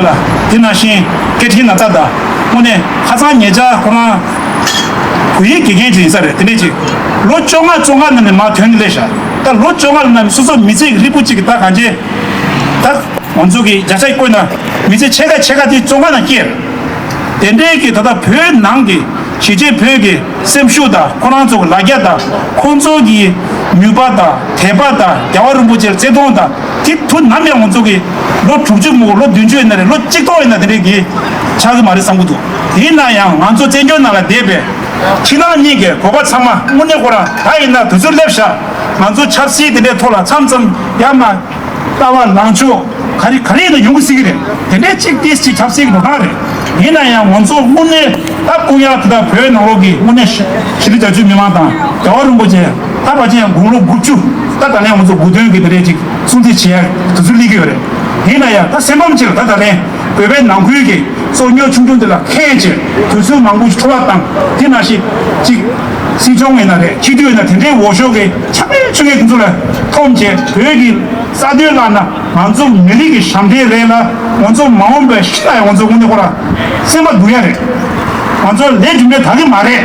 ལ། དེ་ནང་བཞིན་སྐད་འཕྲིན་ནང་རྩ་དང་དངོས་གནས་ཧ་ཚང་ངེད་ཅག་ཁོ་རང་བོད་ཡིག་དགེ་རྒན་ཅིག་ཡིན་ས་རེད་དེ་ནས་ཅིག་ལོ་བཅོ་ལྔ་བཅོ་ལྔ་ནང་ནས་མང་དོན་གླེ་བཞག་ད་ལོ་བཅོ་ལྔ་ལ་ནང་ནས་སོ་སོ་མི་ཚེ་ཡི་རིལ་བུ་གཅིག་གི་ད་གང་བྱེད་ད། མང་ཚོགས་ཀྱི་བརྒྱ་ཆ་ཡི་བཀོད་ན་མི་ཚེ་ཕྱེད་ཀ་ཕྱེད་ཀ་དེ་བཅོ་ལྔ་ནང་སྐྱེལ། དེ་འདྲའི་གི་ད་ལྟ་བོད་ནང་གི་གཞིས་བྱེས་བོད་ཀྱི་སེམས་ཤུགས་དང་ཁོ་རང་ཚོ་གི་ལ་རྒྱ་དང་ཁོང་ཚོ་གི་ནུས་པ་དང་དད་པ་དང་རྒྱ་བ་རིན་པོ་ཆེར་བརྩེ་དུང་དང། གཅིག་ཐུགས་ནམ་ཡང་ངོ་ཚོགས་ཀྱི། ལོ་དྲུག་ཅུ་མོག་ལོ་བདུན་ཅུ་ཡིན་ན་རེད་ལོ་གཅིག་ཐོག་ཡིན་ན་དེ་རིགས་ཀྱི། ཆགས་ཀྱི་མ་རེད་བསམ་གྱི་འདུག་དེ་ཡིན་ན་ཡང་ང་ཚོ་བཙན་བྱོལ་ནང་ལ་བསྡད་པའི། ཕྱི་ནང་གཉིས་ཀའི་གོ་བ་ཚང་མ་དངོས་གནས་ཁོ་རང་ད་ཡིན་ན་དུས་ཚོད་སླེབས་བཞག་ང་ཚོ་ཆབ་སྲིད་དེ་འདྲའི་ཐོག་ལ་ཚམ་ཚམ་ཡར་མར། ལྟ་བ་ལངས་ཕྱོགས་ག་རེ་ག་རེ་ཡིན་ན་ཡོང་གི་སྲིད་ཀྱི་རེད་དེ་འདྲའི་གཅིག་དེ་སྤྱི་ཆབ་སྲིད་ཀྱི་འགྲོ་སྟངས་རེད་ཡིན་ན་ཡང་ང་ཚོ་དངོས་གནས་ད་ཀུན་ཡང་དེ་དང་བོད་ནང་ལོགས་ཀྱི་དངོས་གནས་ཤི་ལི་རྒྱ་ཆུའི་མི་མང་དང་རྒྱ་བ་རིན་པོ་ཆེ། ད་བར་གྱི་ཡང་དགུང་ལོ་དགུ་བཅུ་ད་ད་ལན་ང་ཚོ་དགུ་བདུན་གྱི་དུས་རེད་ཅིག་སྲུང་བརྩི་བྱེད་ཡག་དུ་ཚུར་སླེབས་ཀྱི་ཡོད་རེད། དེས་ན་ཡང་ད་སེམས་ཕམ་ཆེ་ལ་ད་ད་ལན་བོད་པའི་ནང་ཁུལ་གྱི་སོ་སྨྱོ་ཆུང་ཆུང་དེ་ལ་ཁས་འཆེ་དུས་ཚོད་མང་པོ་འཕྲོ་བ་དང་དེ་ན་ཞིག་ཅིག་སྲིད་སྐྱོང་མེད་ན་རེད་ཕྱི་དུས་ན་དེ་འདྲའི་འོ་ཞོ་གི་ཆ་མེད་ཆུ་ངན་དེ་ཚོ་ལ་ཐོམ་ཆེ་བོད་ཀྱི་ས་དོན་བརླག་ན་ང་ཚོ་མི་རིགས་ཀྱི་ཞབས་འདྲེན་རེད་ལ་ང་ཚོ་མ་འོངས་པའི་ཤི་ལ་ཡང་ང་ཚོ་དངོས་གནས་ཁོ་རང་སེམས་པ་སྡུག་ཡ་རེད་ང་ཚོ་ལས་གྲུབ་འབྲས་ད་གི་མ་རེད།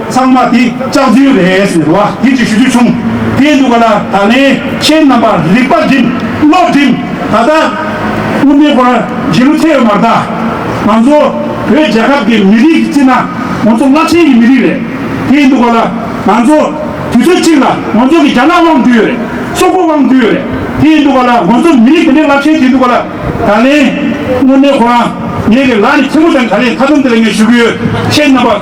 ཚང་མ་དེ་ལྕགས་རྫུན་རེད་ཟེར་བ་དེ་ཅིག་ཞུ་རྒྱུ་བྱུང། དེ་འདུག་ག་ལ་ད་ལན་ཁྱེད་རྣམ་པར་རིག་པ་བསྒྲིམ་བློ་བསྒྲིམ་ད་ལྟ་དབུ་མའི་སྐོར་བརྗེ་རུ་ཐལ་ཡོད་མ་གདའ། ང་ཚོ་བོད་རྒྱལ་ཁབ་ཀྱི་མི་རིགས་ཀྱི་རྩིས་ན་ང་ཚོ་བླ་ཆེན་གྱི་མི་རིགས་རེད། དེ་འདུག་ག་ལ་ང་ཚོ་དུས་ཚོད་གཅིག་ལ་ང་ཚོ་གི་རྒྱ་ནག་དབང་འདུས་ཡོད་རེད་སོག་པོ་དབང་འདུས་ཡོད་རེད་དེ་འདུག་ག་ལ་ང་ཚོ་མི་རིགས་དེ་འདྲའི་བླ་ཆེན་དེ་འདུག་ག་ལ་ད་ལན་དབུ་མའི་སྐོར་ང་གི་ལག་ནས་ཐལ་མོ་བསྒྲེང་ད་ལན་མཐའ་མཚམས་དེ་ལ་ངས་ཞུ་གི་ཡོད་ཁྱེད་རྣམ་པ།